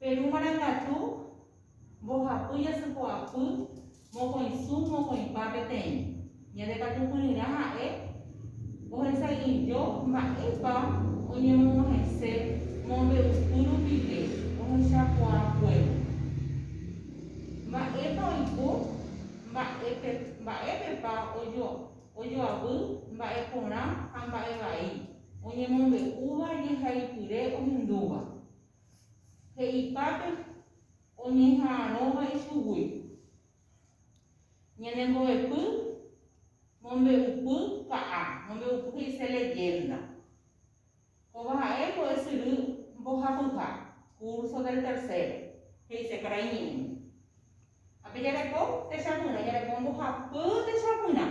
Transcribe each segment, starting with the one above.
Peru marangatu, mbohapy, jasypo'apy, mokõisũ, mokõipa peteĩ. Ñande katu kyryrã ha'e ohesay'uijo mba'épa oñemog̃uahẽse mombe'upy rupive ohechakuaakuévo. Mba'épa oipo, mba'épepa ojoavy mba'e porã ha mba'e vai oñemombe'úva jehaipyre ohindúva. he'ipápe oñeha'arõva ichugui. Ñane mbo'epy mombe'upy ka'a, mombe'upy he'ise leyenda. Kóva ha'e mbo'esyry mbohapyha, curso del tercero. He'ise karai ñe'ẽ. Ha pe jareko techapyrã, jareko mbohapy techapyrã.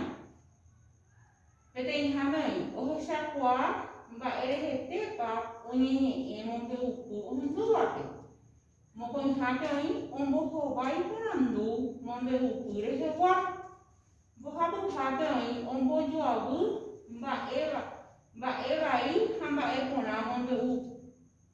Peteĩháme oĩ ohechakuaa mba'e rehetépa oñeñe'ẽ mombe'upy ohendúvape. Mokõihápe oĩ ombohovái iporandu mombe'upy rehegua. Mbohapyhápe oĩ ombojoavy mba'e vai ha mba'e porã mombe'u.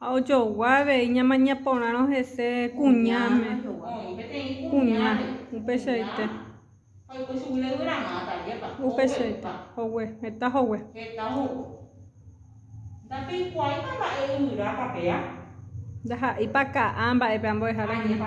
Ha ojogua avei ñamaña porãrõ hese kuñáme, kuña, upeichaite. Upeichaite, hogue, heta hogue. Ndaha'éipa ka'a mba'épe ambuehára hína.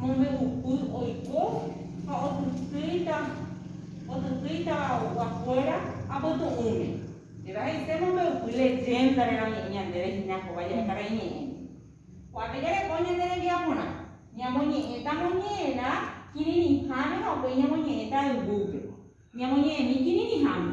Mombe'upy oiko ha otytýita otytýitava oguakuéra apytu'ũme. Péva he'ise mombe'upy leyénda reramoñe'ẽ ñandéve hína kóva jahekara'i ñe'ẽme. Ko'ápe jareko ñande rembiaporã, ñamoñe'ẽta moñe'ẽrã kirirĩháme ha upéi ñamoñe'ẽta yvúpe, ñamoñe'ẽmi kirirĩháme.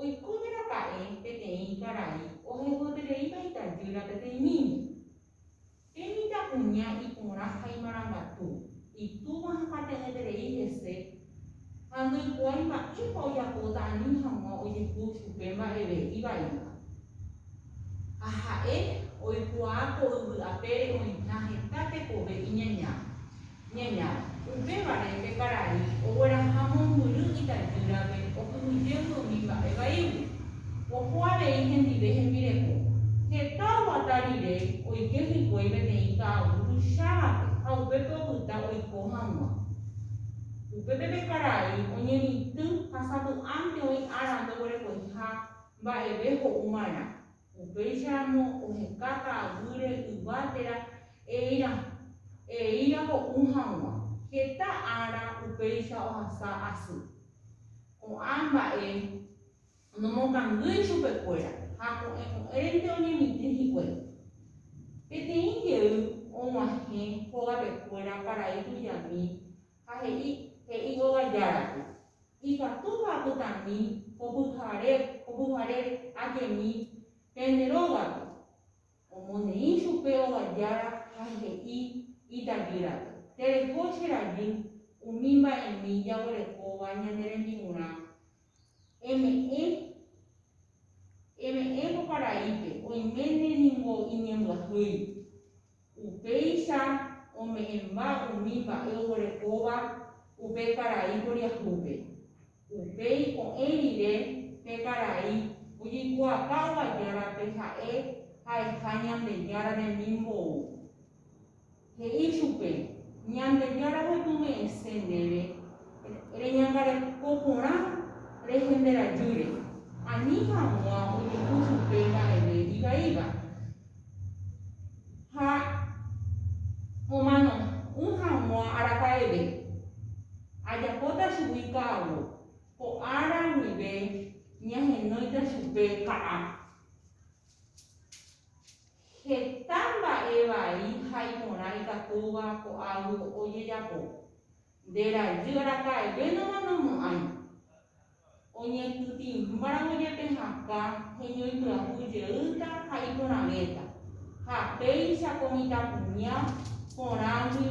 Oiko jeraka'e peteĩ karai ohepyetereíva itajýra peteĩ niño. Pe mitãkuña iporã ha imarangatu, itúva hapate'ỹeterei hese ha ndoikuaái mba'épa ojapóta ani hag̃ua ojehu chupe mba'eve ivaíva. Ha ha'e oikuaa ko yvy apére oĩha heta tekove iñañáva, Ñaña. Upévare pe karai ogueraha mombyry itajýrape okyhyjévo umi mba'e vaígui. Oho avei hendive hembireko. Heta oguata rire oike hikuái peteĩ ka'aguy tuichávape ha upépe opyta oiko hag̃ua. Upépe pe karai oñemitỹ ha sapy'ánte oĩ ára ndoguerekoiha mba'eve ho'u marã. Upéicharamo ohekáta aguyre yva térã eíra, eíra ho'u haguã. Heta ára upéicha ohasa asy. Ko'ã mba'e nomokangýi chupekuéra ha ko'ẽ ko'ẽrente oñemitỹ hikuái. Peteĩ jey oguahẽ hogapekuéra paraíso jami Ha he'i, he'i óga járape, Ikatúpa apytami ko pyhare, ko pyhare ajemi pende rógape. Omoneĩ chupe óga jára ha he'i itajýrape, Tereho che rajy umi mba'emi jaguerekóva ñane rembi'urã, Eme'ẽ, eme'ẽ ko paraípe, oiméne ningo iñembyahýi. Upéicha ome'ẽmba umi mba'e oguerekóva upe karai poriahúpe. Upéi ko'ẽ rire pe karai ojeikuaaka ovajárape ha'e ha'eha Ñandejára remimbou. He'i chupe, Ñandejára repuve'ẽse ndéve reñangareko porã rehenderajýre, ani hag̃ua ojehu chupe mba'eve ivaíva, ha omano'ỹ hag̃ua araka'eve. Ajapóta chugui ka'avo, ko ára guive ñahenóita chupe ka'a. Heta mba'e vai ha iporã ikatúva ko'águi ojejapo. Nde rajy araka'evénama nomo'ãi. Oñekytĩmbáramo jepe hakã heñoipyahu jeýta ha iporãvéta, ha péicha ko mitãkuña porãgui.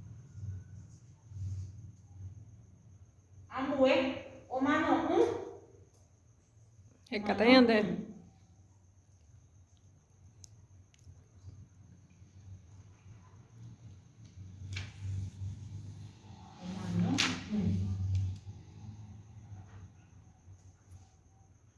Ambue omano'ỹ. Hekate ñande.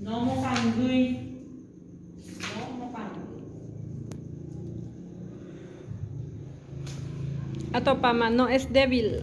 Nomopangýi. Atopáma, no es débil.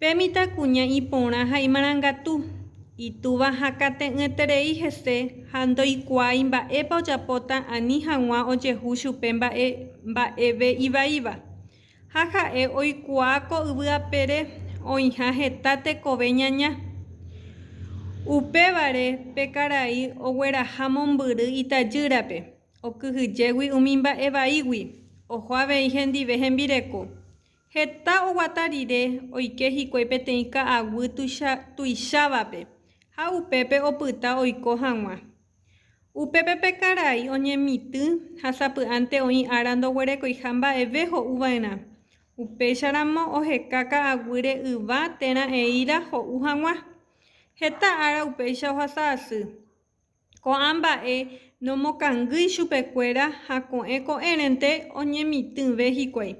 Pe mitãkuña iporã ha imarangatu, itúva hakãte'ỹeterei hese ha ndoikuaái mba'épa ojapóta ani hag̃ua ojehu chupe mba'e mba'eve ivaíva. Ha ha'e oikuaa ko yvy apére oĩha heta tekove ñaña. Upévare pe karai ogueraha mombyry itajýrape, okyhyjégui umi mba'e vaígui, oho avei hendive hembireko. Heta oguata rire oike hikuái peteĩ ka'aguy tuicha tuichávape ha upépe opyta oiko hag̃ua. Upépe pe karai oñemitỹ ha sapy'ánte oĩ ára ndoguerekoiha mba'eve ho'uva'erã. Upéicharamo oheka ka'aguýre yva térã eíra ho'u hag̃ua. Heta ára upéicha ohasa asy. Ko'ã mba'e nomokangýi chupekuéra ha ko'ẽ ko'ẽrente oñemitỹve hikuái.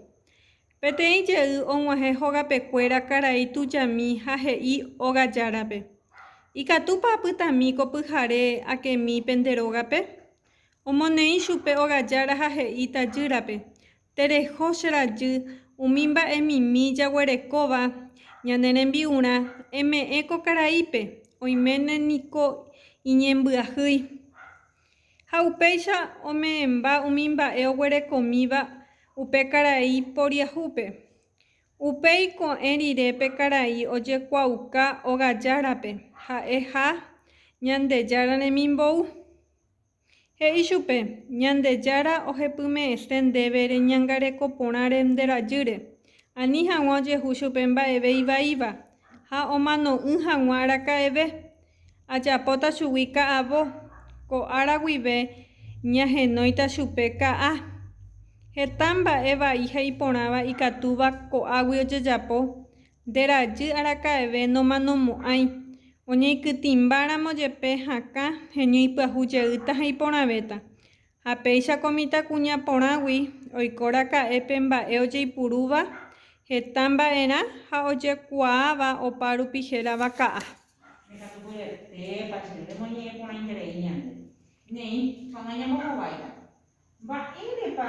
Peteĩ jey og̃uahẽ hogapekuéra karai tujami ha he'i óga járape, Ikatúpa apytami ko pyhare akemi pende rógape? Omoneĩ chupe óga jára ha he'i tajýrape, Tereho che rajy umi mba'emimi jaguerekóva ñane rembi'urã, eme'ẽ ko karaípe, oiméne niko iñembyahýi. Ha upéicha ome'ẽmba umi mba'e oguerekomíva upe karai poriahúpe. Upéi ko'ẽ rire pe karai ojekuaauka ogajárape, ha'e ha Ñandejára remimbou. He'i chupe, Ñandejára ohepyme'ẽse ndéve reñangareko porãre nde rajýre. Ani hag̃ua ojehu chupe mba'eve ivaíva, ha omano'ỹ hag̃ua araka'eve. Ajapóta chugui ka'avo, ko ára guive ñahenóita chupe ka'a. Heta mba'e vai ha iporãva ikatúva ko'águi ojejapo, Nde rajy araka'eve nomanomo'ãi, oñeikytĩmbáramo jepe hakã heñoipyahu jeýta ha iporãvéta. Ha péicha ko mitãkuña porãgui oiko raka'e pe mba'e ojeipurúva heta mba'erã ha ojekuaáva opa rupi hérava ka'a. Ndekatu vyetépa che remoñe'ẽ porãiterei ñande. Néi, ha nañambohováita. Mba'érepa?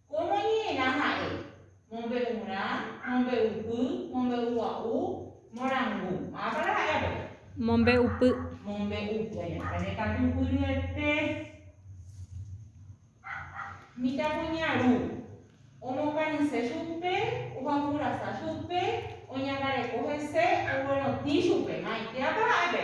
Kómo ñe'ẽrã ha'e, mombe'urã, mombe'upy, mombe'ugua'u, morangu. Mávapara ha'e avei? Mombe'upy. Mombe'upy. Añakãtupyryete. Mitãkuñaru. Omokañyse chupe, ojakurasa chupe, oñangareko hese, oguerotĩ chupe. Maitéapa ha'e pe?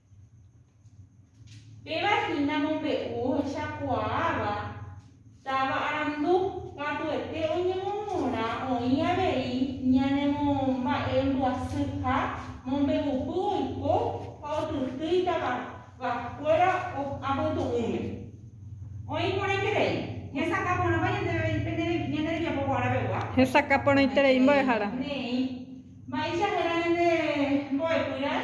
Péva hína mombe'u ohechakuaáva táva arandu, katuete oñemomorã oĩ avei ñanemomba'embyasýha mombe'upy oiko ha otytýi tavakuéra apytu'ũme. Oĩ porãiterei, hesakã porãpa ñandéve pene ñane rembiapo guarãvegua. Hesakã porãiterei mbo'ehára. Ne'ẽ, mba'eichahẽra ñande mbo'epy raẽ?